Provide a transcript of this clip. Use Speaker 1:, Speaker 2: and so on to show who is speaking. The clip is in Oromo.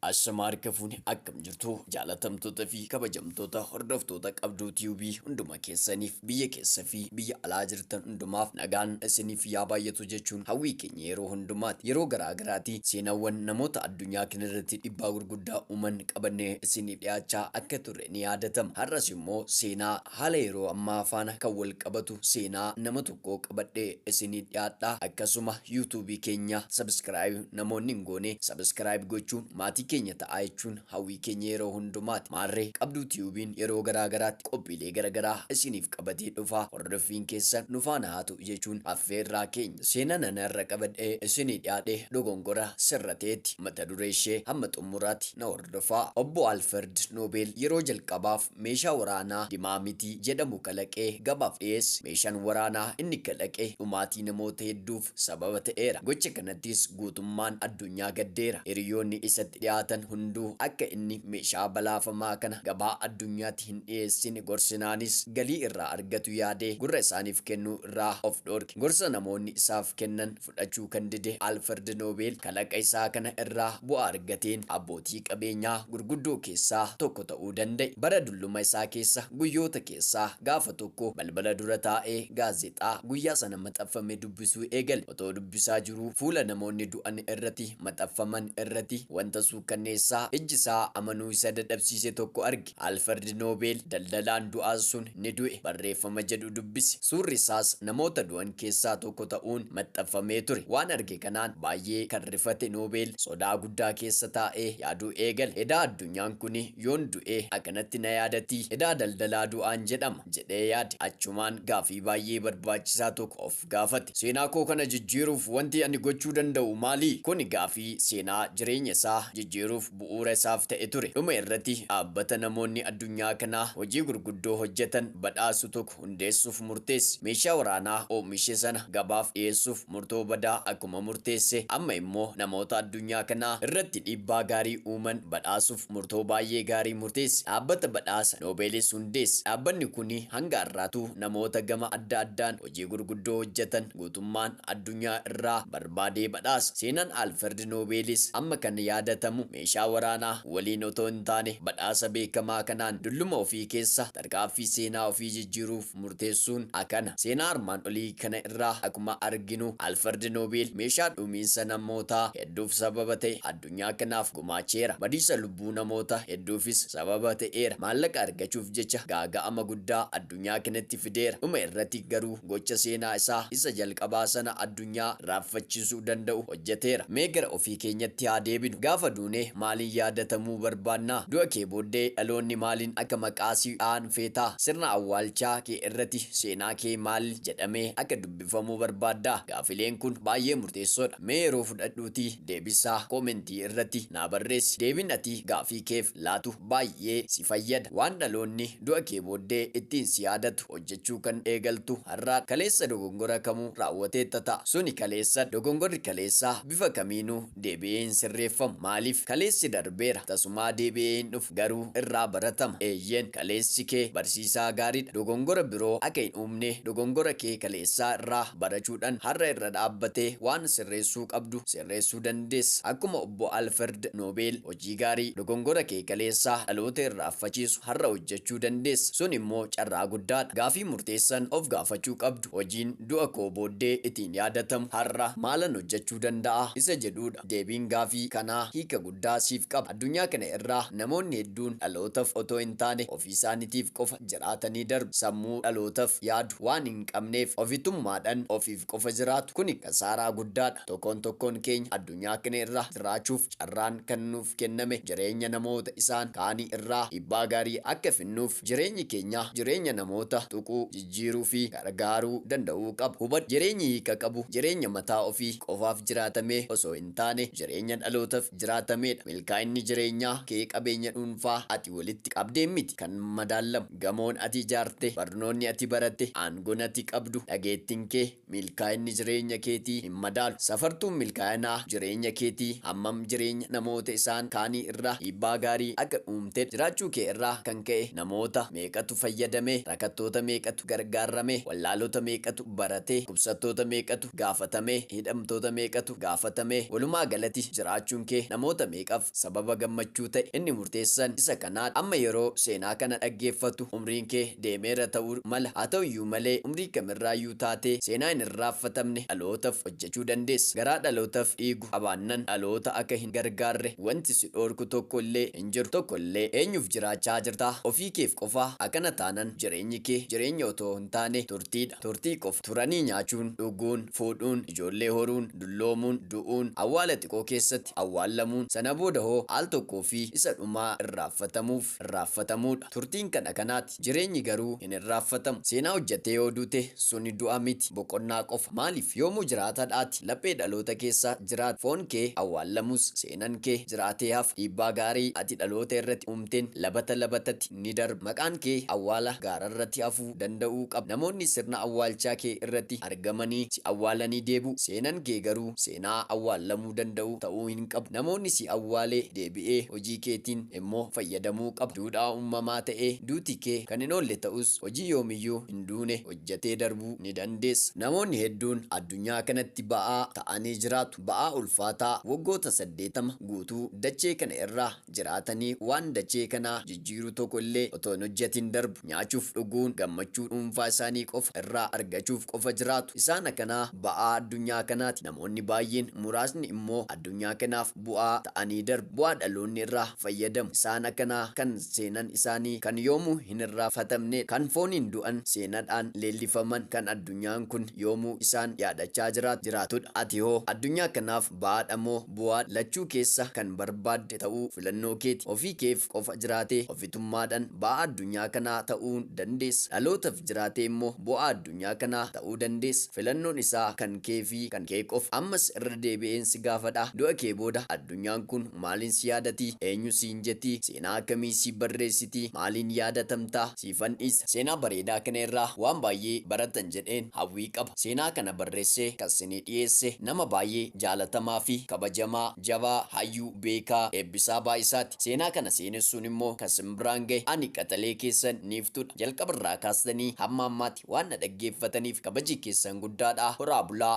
Speaker 1: Ashamaa harka fuune akkam jirtu jaalatamtoota fi kabajamtoota hordoftoota qabduu tube hunduma keessaniif biyya keessa fi biyya alaa jirtan hundumaaf nagaan isiniif yaa baay'atu jechuun hawwii keenya yeroo hundumaati yeroo garaa garaati seenaawwan namoota addunyaa kana irratti dhibbaa gurguddaa uuman qabannee isiniif dhiyaachaa akka turre ni yaadatama har'as immoo seenaa Haala yeroo ammaa faana kan wal qabatu seenaa nama tokkoo qabadhee isinii dhiyaadha. Akkasuma YouTube keenya subscribe namoonni hin goone subscribe gochuun maatii keenya ta'aa jechuun hawwii keenya yeroo hundumaati. Maarree Qabduu Tiyuubiin yeroo garaa garaatti qophiilee gara garaa isiniif qabatee dhufa. Hordoffiin keessan nu faana haa ta'u jechuun affeerraa keenya. Seenaan ani har'a qabadhee isinii dhiyaadhe dogongora sirra ta'eeti. Mata duree ishee hamma xumuraati na hordofaa. Obbo Alferd Noobeel yeroo jalqabaaf Meeshaa waraanaa dimaamitii jedhamu kalaqee gabaaf dhiyeesse. Meeshaan waraanaa inni kalaqe dhumaatii namoota hedduuf sababa ta'eera. Gocha kanattis guutummaan addunyaa gaddeera. Hiriyoonni isatti dhiyaatan hunduu akka inni meeshaa balaafamaa kana gabaa addunyaatti hin dhiyeessine gorsinaanis galii irraa argatu yaadee gurra isaaniif kennuu irraa of dhoorke. Gorsa namoonni isaaf kennan fudhachuu kan dide Alfred Nobel kalaqa isaa kana irraa bu'aa argateen abbootii qabeenyaa gurguddoo keessaa tokko ta'uu danda'e. Bara dulluma isaa keessa guyyoota keessaa gaafa tokko balbala dura taa'ee gaazexaa guyyaa sana maxaffame dubbisuu eegale. Otoo dubbisaa jiruu fuula namoonni du'an irrati maxaffaman irrati wanta suukkanneessaa ijji isaa amanuu isa dadhabsiise tokko arge. Alferd Noobeel daldalaan du'aan sun ni du'e barreeffama jedhu dubbise. Suurri isaas namoota du'an keessaa tokko ta'uun maxxanfamee ture. Waan arge kanaan baay'ee kan rifate Noobeel sodaa guddaa keessa taa'ee yaaduu eegale. Edaa addunyaan kuni yoon du'e akkanatti na yaadatii? Edaa daldalaa du'aan jedhama? jedhee yaade. Achumaan gaaffii baay'ee barbaachisaa tokko of. gaafate. Seenaa koo kana jijjiiruuf wanti ani gochuu danda'u maali? Kuni gaafii seenaa jireenya isaa jijjiiruuf bu'uura isaaf ta'e ture. Dhuma irrati dhaabbata namoonni addunyaa kanaa hojii gurguddoo hojjetan badhaasu tokko hundeessuuf murteesse. Meeshaa waraanaa oomishe sana gabaaf dhiyeessuuf murtoo badaa akkuma murteesse, amma immoo namoota addunyaa kanaa irratti dhiibbaa gaarii uuman badhaasuuf murtoo baay'ee gaarii murteesse. Dhaabbata badhaasa Noobeelis hundeesse. Dhaabbanni kuni hanga har'aatuu namoota gama adda addaan hojii gurguddoo hojjatan guutummaan addunyaa irraa barbaadee badhaasa. Seenaan Alferd Noobeelis amma kan yaadatamu meeshaa waraanaa waliin otoo hin taane badhaasa beekamaa kanaan dulluma ofii keessa tarkaaffii seenaa ofii jijjiiruuf murteessuun akana. Seenaa armaan olii kana irraa akkuma arginu Alferd Noobeel meeshaa dhuumiinsa namootaa hedduuf sababa ta'e addunyaa kanaaf gumaacheera. Badiisa lubbuu namoota hedduufis sababa ta'eera. Maallaqa argachuuf jecha gaaga'ama guddaa addunyaa kanatti fideera. Dhuma irratti garuu gocha seenaa isaa isa jalqabaa sana addunyaa raaffachiisuu danda'u hojjeteera. Mee gara ofii keenyatti haa deebinu. Gaafa duune maaliin yaadatamuu barbaadna? Du'a kee booddee dhaloonni maaliin akka maqaa si dha'an feeta? Sirna awwaalchaa kee irratti seenaa kee maal jedhamee akka dubbifamuu feeta? dubbifamuu barbaadda? Gaafileen kun baay'ee murteessoodha. Mee yeroo fudhadhuutii deebisaa koomentii irratti naa barreessi. Deebiin ati gaafii keef laatu baay'ee si fayyada. Waan dhaloonni du'a kee booddee ittiin si yaadatu hojjechuu kan eegaltu har'aadha. Kaleessa dogongora kamuu raawwateetta ta'a. Suni kaleessadha. Dogongorri kaleessaa bifa kamiinuu Deebi'ee hin sirreeffamu. Maaliif? Kaleessi darbeera. Tasumaa deebi'ee hin dhufu. Garuu irraa baratama. Eeyyeen, kaleessi kee barsiisaa gaariidha. Dogongora biroo akka hin uumne dogongora kee kaleessaa irraa barachuudhan har'a irra dhaabbatee waan sirreessuu qabdu sirreessuu dandeessa. Akkuma Obbo Alferd Noobeel, hojii gaarii dogongora kee kaleessaa dhaloota irraaffachiisu har'a hojjechuu dandeessa. Sun immoo carraa guddaadha. Gaafii murteessan of gaafachuu qabdu, Hojiin du'a koo booddee itiin yaadatamu har'a maalan hojjechuu qaba? fayyaduu danda'a? isa jedhuudha. Deebiin gaafii kanaa hiika guddaa siif qaba. Addunyaa kana irraa namoonni hedduun dhalootaf otoo hin taane ofiisaanitiif qofa jiraatanii darbu. Sammuu dhalootaf yaadu waan hin qabneef ofitummaadhan ofiif qofa jiraatu. Kuni kasaaraa guddaadha. Tokoon tokkoon keenya addunyaa kana irraa jiraachuuf carraan kan nuuf kenname jireenya namoota isaan kaanii irraa dhiibbaa gaarii akka finnuuf, Jireenyi keenya jireenya namoota tuquu, jijjiiruu fi gargaaruu danda'uu qaba. Hubadhu, jireenyi hiika qabu jireenya mataa ofii qofaaf jiraatamee osoo hin taane, jireenya dhalootaf jiraatamee dha. Milkaa'inni jireenyaa kee qabeenya dhuunfaa ati walitti qabdeen miti kan madaallamu. Gamoon ati ijaarte, barnoonni ati baratte, aangoon ati qabdu, dhageettin kee, Milkaa'inni jireenya keetii hin madaalu. Safartuun milkaa'inaa jireenya keetii hammam jireenya namoota isaan kaanii irraa dhiibbaa gaarii akka uumtedha. Jiraachuu kee irraa kan ka'e namoota meeqatu fayyadamee, rakattoota meeqatu gargaarramee, wallaalota meeqatu baratee, dhukkubsattoota meeqatu gaafatamee, hidhamtoota meeqatu gaafatamee, walumaa galati jiraachuun kee namoota meeqaf Sababa gammachuu ta'e inni murteessan isa kanaa dha. Amma yeroo seenaa kana dhaggeeffattu umriin kee deemeera ta'uu mala. Haa ta'u iyyuu malee umrii kam irraa iyyuu taatee seenaa hin irraaffatamne dhalootaf hojjechuu dandeessa. Garaa dhalootaf dhiigu qabaannan dhaloota akka hin gargaarre wanti si dhoorku tokko illee hin jiru. Tokko illee. Eenyuf jiraachaa jirta? Ofii keef qofaa? Akkana taanan jireenyi kee jireenya otoo hin taane turtii dha. Turtii qofa. Turanii nyaachuun, dhuguun, fuudhuun, ijoollee horuun, dulloomuun, du'uun, awwaala xiqoo keessatti, irratti awwaallamuun sana booda hoo al tokkoo fi isa dhumaa irraaffatamuuf irraaffatamuudha. Turtiin kan akanaati. Jireenyi garuu hin irraaffatamu. Seenaa hojjattee yoo duute suni du'a miti, boqonnaa qofa. Maaliif? Yoomuu jiraatadha ati. Laphee dhaloota keessa jiraata. Foon kee awwaallamus seenan kee jiraatee hafa. Dhiibbaa gaarii ati dhaloota irrati uumteen labata labatati ni darba. Maqaan kee awwaala gaararrati hafuu danda'uu qaba. Namoonni sirna awwaalchaa kee irrati argamanii si awwaalanii deebi'u. Seenan kee garuu seenaa awwaallamuudha. fayyadamuu danda'u ta'uu hin qabu. Namoonni si awwaalee deebi'ee hojii keetiin immoo fayyadamuu qaba. Duudhaa uummamaa ta'ee duuti kee kan hin oolle ta'us, hojii yoomiyyuu hin duune hojjettee darbuu ni dandeessa. Namoonni hedduun addunyaa kanatti ba'aa ta'anii jiraatu. Ba'aa ulfaataa waggoota 80 guutuu dachee kana irraa jiraatanii waan dachee kana jijjiiru tokko illee otoo hin hojjatin darbu. Nyaachuuf dhuguun gammachuu dhuunfaa isaanii qofa irraa argachuuf qofa jiraatu. Isaan akkanaa ba'aa addunyaa kanaati. Namoonni baay'een muraasni immoo addunyaa kanaaf bu'aa ta'anii darbu. Bu'aa dhaloonni irraa fayyadamu. Isaan akkanaa kan seenan isaanii kan yoomuu hin irraafatamneedha. Kan fooniin du'an, seenadhaan leellifaman, kan addunyaan kun yoomuu isaan yaadachaa jiraatu jiraatudha. Ati hoo addunyaa kanaaf Ba'aadha moo bu'aa lachuu keessa kan barbaadde ta'uu filannoo keeti. Ofii keef qofa jiraatee ofitummaadhan ba'aa addunyaa kanaa ta'uu dandeessa. Dhalootaf jiraatee immoo bu'aa addunyaa kanaa ta'uu dandeessa. Filannoon isaa kan kee fi kan kee qofa. Ammas irra deebi'een si gaafadha, du'a kee booda addunyaan kun maaliin si yaadati? Eenyu siin jeti? Seenaa akkamii siif barreessiti? Maaliin yaadatamta? siifan dhiisa. Seenaa bareedaa kana irraa waan baay'ee barattan jedheen hawwii qaba. Seenaa kana barressee kan sinii dhiyeesse nama baay'ee jaalatamaa fi kabajamaa, jabaa, hayyuu, beekaa, Eebbisaa Baay'isaati. Seenaa kana seenessuun immoo kan sin biraan gahe ani qaxalee keessan Niiftuudha. Jalqaba irraa kaastanii hamma ammaatti waan na dhaggeeffataniif kabaji keessan guddaadha. Horaa bulaa!